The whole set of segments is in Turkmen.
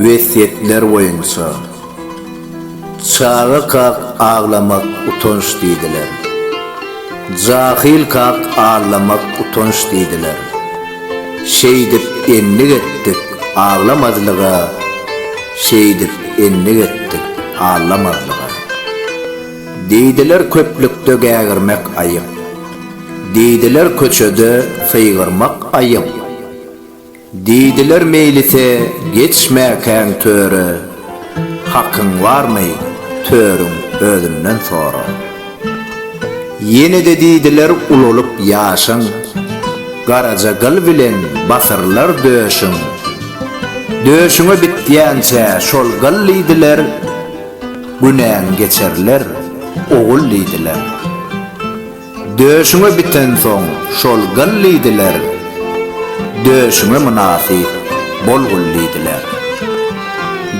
Wesýetler boýunça, Çaga kak aglamak utanç diýdiler. Jahyl kak allamak utanç diýdiler. Şeýdip endik etdik, aglamazlyga, Şeýdip endik etdik, allamazlyga. Diýdiler köplükde gägirmek aýyp, Diýdiler köçede sygyrmak aýyp. Diýdiler meýlise geçmäkäň töre, Hakyň barmy, törüň özünden sora. Ýene-de diýdiler ulalyp ýaşyň, Garaja gyl bilen basyrlar döşüň. Döşüňe bitýänçä şol gyl diýdiler, Günäň geçerler, ogul diýdiler. Döşüňe bitensoň şol gyl diýdiler, Döşüňe mynasyp bol gul diýdiler.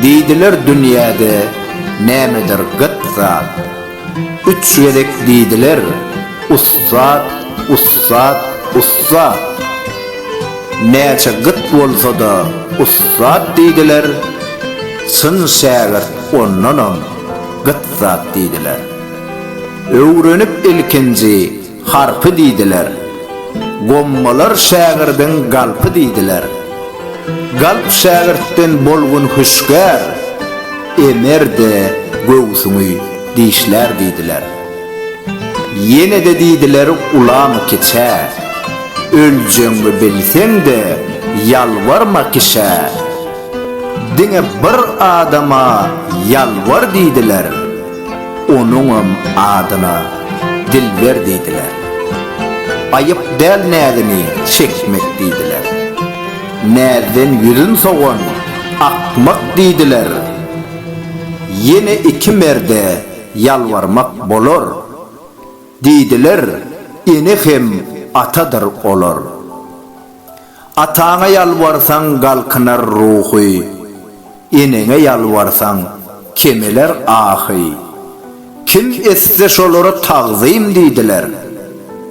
Diýdiler dünýäde nämedir gyt zat, Üç gezek diýdiler, ussat, ussat, ussat. Näçe gyt bolsa-da ussat diýdiler, Çyn şägirt ondanam gyt zat diýdiler. Öwrenip ilkinji harpy diýdiler. Gommalar şägirdiň galpy diýdiler. Galp şägirtden bolgun hüşgär, Emer-de göwsüňi dişlär diýdiler. Ýene-de diýdiler ulamy kiçä, Öljegiňi bilseň-de ýalbarma kişä. Diňe bir adama ýalbar diýdiler. Onuňam adyna Dilber diýdiler. Aýyp däl näzini çekmek diýdiler. Näzden ýüzün sowan akmak diýdiler. Ýene iki merde ýalbarmak bolar. Diýdiler, ene hem atadyr olar. Ataňa ýalbarsaň galkynar ruhy, Eneňe ýalbarsaň kemeler ahy. Kim etse şolara tagzym diýdiler,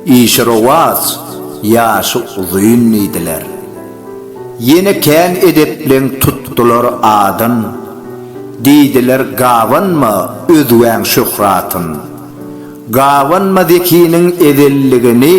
Işi rowaç, ýaşy uzyn diýdiler. Ýene kän edepleň tutdular adyn, Diýdiler gabanma özgäň şöhratyn. Gabanma zekiniň ezelligini.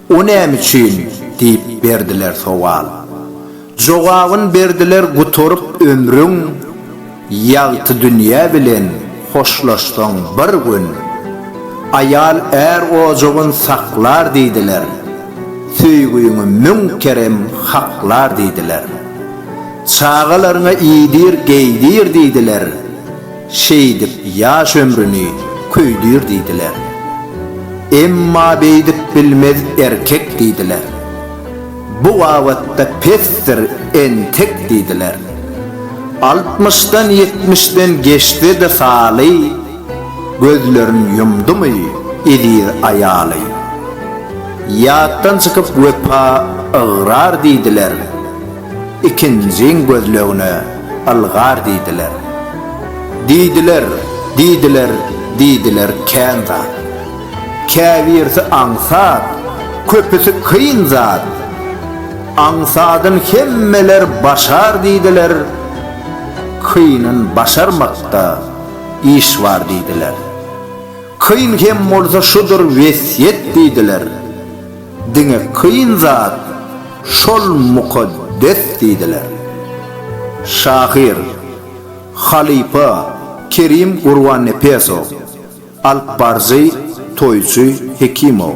O näme üçin? diýip berdiler sowal. Jogabyn berdiler gutaryp ömrüň, Ýagty dünýä bilen hoşlaşsaň bir gün. Aýal är ojagyn saklar diýdiler, Söýgiňi müň kerem haklar diýdiler. Çagalaryňa iýdir, geýdir diýdiler. Şeýdip ýaş ömrüni köýdür diýdiler. Emma beýdip bilmez erkek diýdiler. Bu babatda pesdir entek diýdiler. Altmyşdan ýetmişden geçse-de saly, gözlerin ýumdumy eziz aýaly. Ýatdan çykyp wepa ygrar diýdiler. Ikinjiň gözlegine ylgar diýdiler. Diýdiler, diýdiler, diýdiler kän zat. Käbirsi aňsat, köpüsi kyn zat. Aňsadyn hemmeler başar diýdiler, kynyn başarmakda iş bar diýdiler. Kyn hem bolsa şudur wesýet diýdiler. Diňe kyn zat şol mukaddes diýdiler. Şahyr, halypa Kerim Gurbannepesow, alypbaryjy Toýçy Hekimow.